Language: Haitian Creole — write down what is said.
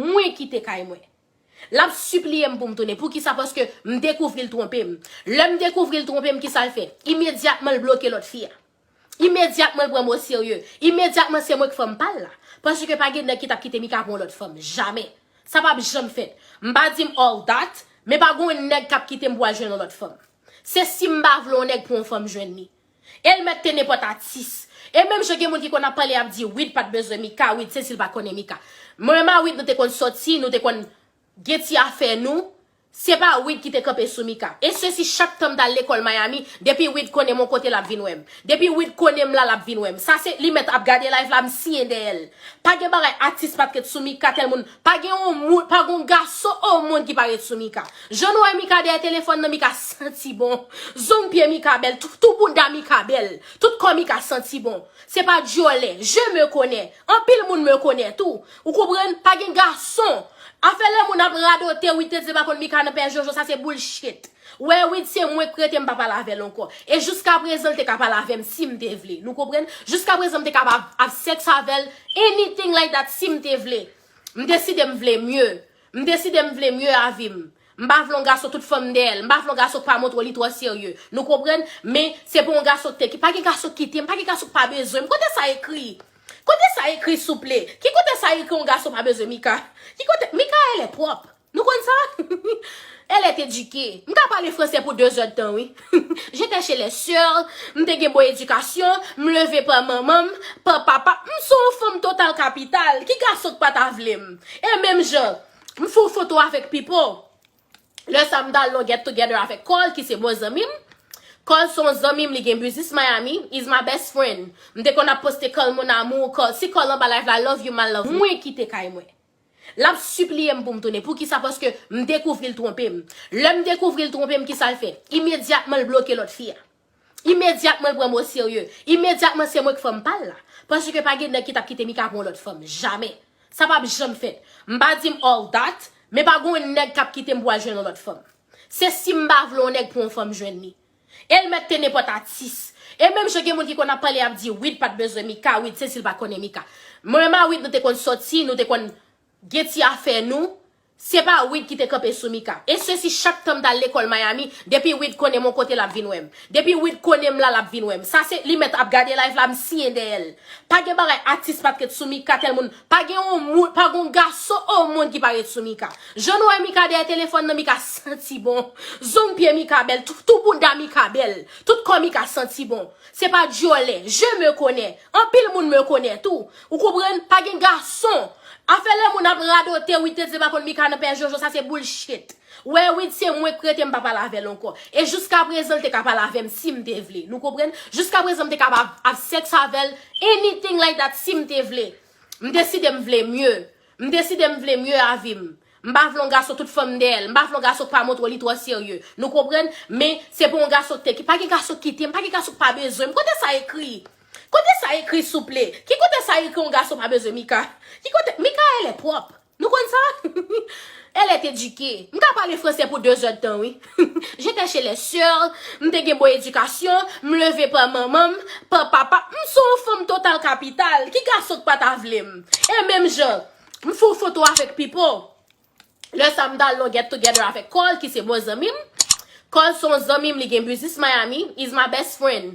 Mwen kite kay mwen. L ap sipliye m pou m tounen. Poukisa? Paske m dekouvri l twonpe m. Lè m dekouvri l twonpe m, kisa l fè? Imedyatman l bloke lòt fi a. Imedyatman l pran m oserye. Imedyatman se mwen ki fanm pa l la. Paske pa gen nèg ki t ap kite Mika pou yon lòt fanm. Jamè. Sa pa p janm fèt. M pa di m all that, men pa gen yon nèg k ap kite m pou al jwenn yon lòt fanm. Se si m pa vle yon nèg pou yon fanm jwenn li. El mèt te nenpòt atis. E menm jan gen moun ki konn ap pale ap di Wid pat bezwen Mika, Wid se si l pa konnen Mika. Mwen ma Wid nou te konn sòti, nou te konn gen ti afè nou, se pa Wid ki te kanpe sou Mika. E se si chak tan m t al lekòl Miami, depi Wid konnen m on kote l ap vin wè m. Depi Wid konnen m la l ap vin wè m. Sa se li mèt ap gade live la m siye dèyè l. Pa gen bagay atis pat ret sou Mika tèlmoun Pa gen yon moun, pa gen yon gason o mond ki pa ret sou Mika. Jan nou wè Mika dèyè telefòn nan, Mika santi bon. Zong pye Mika bèl, tou bouda Mika bèl, tout kò Mika santi bon. Se pa dyòlè, je me connais. Anpil moun me connais tou. Ou konprann? Pa gen gason. Afè lè moun ap radote, wi tete pa konn Mika nan pè Jojo, sa se bullshit. Wè wid se mwenk prete mpa pale avèl ankò e jiska prezan l te ka pale avèm sim te vle nou konprann jiska prezan mte kab av sex avèl anything like that sim te vle mdeside mvle mye mdeside mvle mye avim mpa vle yon gason tout fanm dèyèl mpa vle yon gason kpa montre w li twò serye nou konprann men se pou yon gason k te pa gen gason k kitem pa gen gason k pa bezwenm kote sa ekri kote sa ekri souple ki kote sa ekri yon gason pa bezwen mika ki kote mikaelle pwòp Nou konn sa? Elle est éduquée. M ka pale fransè pou 2 zè tan wi. J'étais chez les soeurs, m te gen bon edikasyon, m leve pa manman m, pa papa m. M se yon fanm total kapital. Ki gason k pa ta vle m? E menm jan, m fè yon foto avèk Pipo. Lè sa m t al nan yon get together avèk Carl ki se bon zanmi m. Carl se yon zanmi m, li gen biznis Miami. He's my best friend. M te konn ap poste Carl mon amour, Carl si, Carl anba live la, love you my lovely. Mwen kite kay mwen. L ap sipliye m pou m tounen. Poukisa? Paske m dekouvri l twonpe m. Lè m dekouvri l twonpe m, kisa l fè? Imedyatman l bloke lòt fi a. Imedyatman l pran m oserye. Imedyatman se mwen ki fanm pa l la. Paske pa gen nèg ki t ap kite Mika pou yon lòt fanm. Jamè. Sa p ap janm fèt. M pa di m all that, men pa gen yon nèg k ap kite m pou al jwenn yon lòt fanm. Se si m pa vle yon nèg pou yon fanm jwenn li. El mèt te nenpòt atis. E menm jan gen moun ki konn ap pale ap di Wid pat bezwen Mika, Wid se sil pa konnen Mika. Mwen menm a Wid nou te konn sòti, nou te konn gen ti afè nou, se pa Wid ki te kanpe sou Mika. E sesi chak tanm tal lekòl Miami, depi Wid konnen m on kote lap vin wèm. Depi Wid konnen m la lap vin wèm. Sa se li mèt ap gade live la m siyen dèyèl. Pa gen bagay atis pat ret sou Mika tèl moun Pa gen yon moun, pa gen yon gason o mond ki pa ret sou Mika. Jan nou wè Mika dèyè telefòn nan, Mika santi bon. Zong pye Mika bèl, tou bouda Mika bèl, tout kò Mika santi bon. Se pa dyòlè, je me connais. Anpil moun me connais tou. Ou konprann? Pa gen gason. Afè lè moun ap radote, wi tete pa konn Mika nan pè Jojo, sa se bullshit. Wè wid se mwen k rete m pa pale avèl ankò e jiska prezan l te ka pale avèm sim te vle nou konprann jiska prezan m te ka av sex avèl anything like that sim te vle m deside m vle mye m deside m vle mye avim m pa vle yon gason tout fanm dèyèl m pa vle yon gason k pa montre w li twò serye nou konprann men se pou yon gason k te ki pa gen gason k kite m pa gen gason k pa bezwen m kote sa ekri kote sa ekri souple ki kote sa ekri yon gason pa bezwen mika ki kote mikaelle pwòp. Nou konn sa? Elle est éduquée. M ka pale fransè pou 2 zè tan wi. J'étais chez les soeurs, m te gen bon edikasyon, m leve pa manman m, pa papa m. M se yon fanm total kapital. Ki gason k pa ta vle m? E menm jan, m fè yon foto avèk Pipo. Lè sa m t al nan Get Together avèk Carl ki se bon zanmi m. Carl se yon zanmi m li gen biznis Miami, he's my best friend.